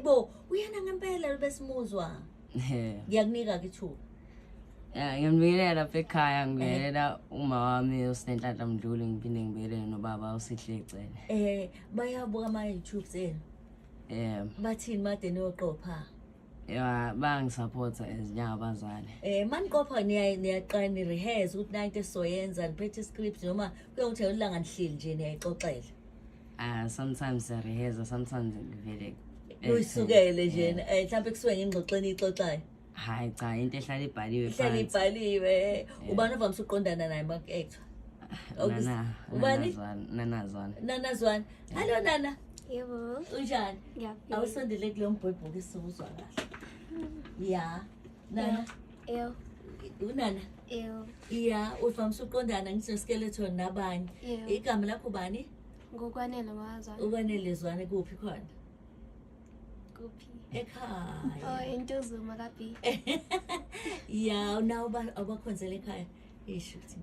Bo, uyena ngempela lo besimuzwa. Eh. Ngiyakunika ke ithuba. Ya, ngiyambingelela lapha ekhaya, Eh. ngibingelela uma wami uSinenhlanhla Mdluli, ngiphinde ngibingelele nobaba uSihle Cele. Eh, bayabuka ama YouTube enu. Eh, Bathini made niyoqopha. ya bangisupporta as njengabazali Eh maniqopha niya niyaqala ni rehearse ukuthi nanto esizoyenza niphethe script noma kuye ukuthi elanga nihleli nje niyayixoxela. uh, sometimes siyareheza sometimes ngivele Uyisukele nje Yeah. eh mhlawumbe kusuke ngingxoxeni ixoxayo. hayi cha into ehlala ibhaliwe Ihlale phansi. ibhaliwe. Ubani ovamise ukuqondana naye mak actor? Nana- Ubani? nanazwana nanazwana Nanazwana. Hallo Nana. Yebo. Unjani? Ngiyaphila. Awusondele kulo mbhobho ke siwuzwa kahle. Ya. Nana. Yebo. Unana. Yebo. Ya, uvamise uqondana ngisho skeleton nabanye. Igama lakho bani? Ngokwanele waza. Ukwanele zwane kuphi khona? Kuphi? Ekhaya. Oh, intuzuma kabi. Ya, unawo abakhonzela ekhaya. Isho ukuthi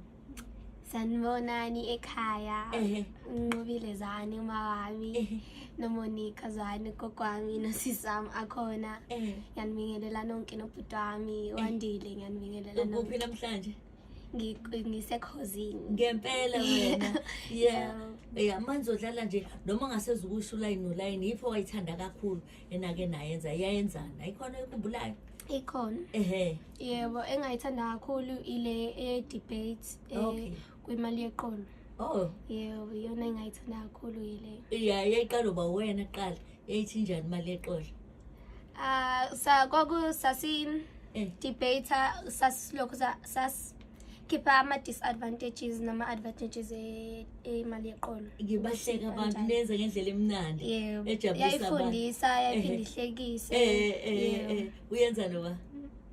sanibonani ekhaya Ehe. nqobile zani uma wami Ehe. nomonika zani gogo wami nosisi wami akhona Eh. ngiyanibingelela nonke nobhuti wami wandile ngiyanibingelela Ukuphi nonke namhlanje? Ngi- ngisekhozini Ngempela wena. Yeah. Yeah. Yeah, manje udlala nje noma ungasezukusho ulayini nolayini yipho wayithanda kakhulu. enake nayenza yayenzani ayikhona oyikhumbulayo ikhona ehe yebo engayithanda kakhulu ile e-debate eh, okay. kwimali yeqolo oh yebo iyona engayithanda kakhulu yileyo ya yayiqala uba wena kuqala yayithi njani imali yeqolo um sa kwaku sasi-debate eh. sasilokhu sas khipha ama-disadvantages nama-advantages e- emali yeqolo ngibahleka abantu Kanjani? nenze ngendlela emnandi Yebo. ejabulisa abantu yayifundisa yayiphinde Ehhe. ihlekise Eh, eh, eh, Yebo. eh, uyenza noba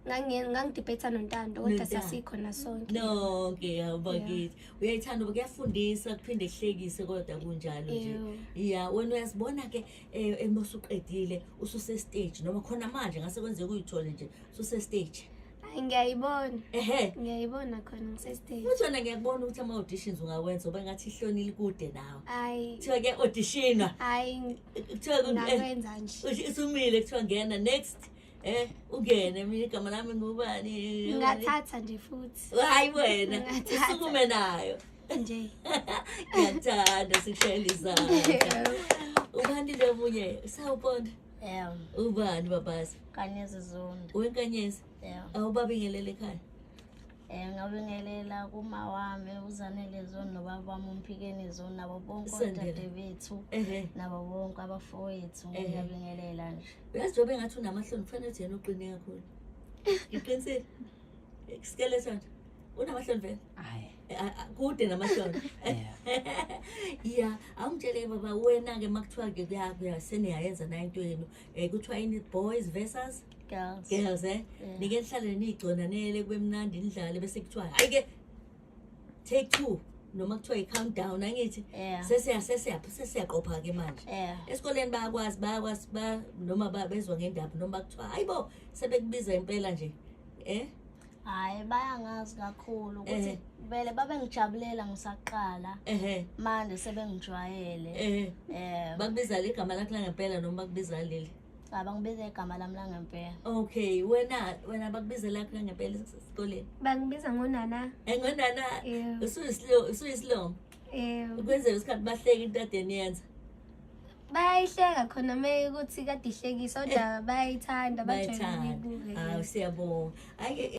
Ngangi- ngangidibhetha nontando kodwa Nontando. sasikhona sonke nonke awubakithi uyayithanda uba kuyafundisa kuphinde kuhlekise kodwa kunjalo nje Yebo. ya wena uyazibona ke um emosuqedile ususestage noma khona manje ngase kwenzeka uyithole nje ususestage Hayi ngiyayibona. Ehhe. Ngiyayibona khona ngisestage. Uthona ngiyakubona ukuthi ama auditions ungawenza uba ngathi ihlonile kude nawe. Hayi. Kuthiwa ke auditionwa. Hayi. Kuthiwa ku- eh, Ngakwenza nje. uthi isumile kuthiwa ngena next. Eh ungene mina igama lami ngubani. Ngathatha nje futhi. Hayi wena. Ngathatha. Usukume nayo. Nje. Ngiyakuthanda sikushayela izandla. Ubani lo munye? Sawubona. Yeah. Ubani babazi? Kanyezi Zondi. Wenkanyezi? Yeah. Awubabingelele ekhaya? Eh ngabingelela kuma wami uzanele zona nobaba wami umphikeni zona nabo bonke odade bethu nabo bonke abafowethu ngiyabingelela nje. Uyazi njengoba engathi unamahloni kufanele uthi yena uqine kakhulu. Ngiqinisile. Isikele sonto. Unamahloni vele? Hayi. kude namahloni ya awungitshele baba wena-ke uma kuthiwa-ke kuyaseneyayenza nayo into yenu um kuthiwa ini boys versus girls girls eh yeah. nike nihlale niyigconanele kube mnandi nidlale bese kuthiwa hayi-ke take two noma kuthiwa i-count down angithi sesiyaqopha-ke manje esikoleni bayakwazi bayakwazi noma bezwa ngendaba noma bakuthiwa hayi bo sebekubiza impela nje um hayi bayangazi kakhulu ukuthi Ehe. vele babengijabulela ngisaqala ehe manje sebengijwayele ehe um bakubiza ligama lakho langempela noma bakubiza leli abangibiza igama lami langempela okay wena wena bakubiza lakho langempela esikoleni bangibiza ngonana engonana Yeah. usuyisilongo usuyisilongo Eh, Ukwenzela isikhathi bahleke into ade niyenza. bayayihleka khona meyi ukuthi kade ihlekisa kodwa bayayithanda bajwayele Bayithanda. Ah, ukuyibuka Hawu yes. siyabonga. Ake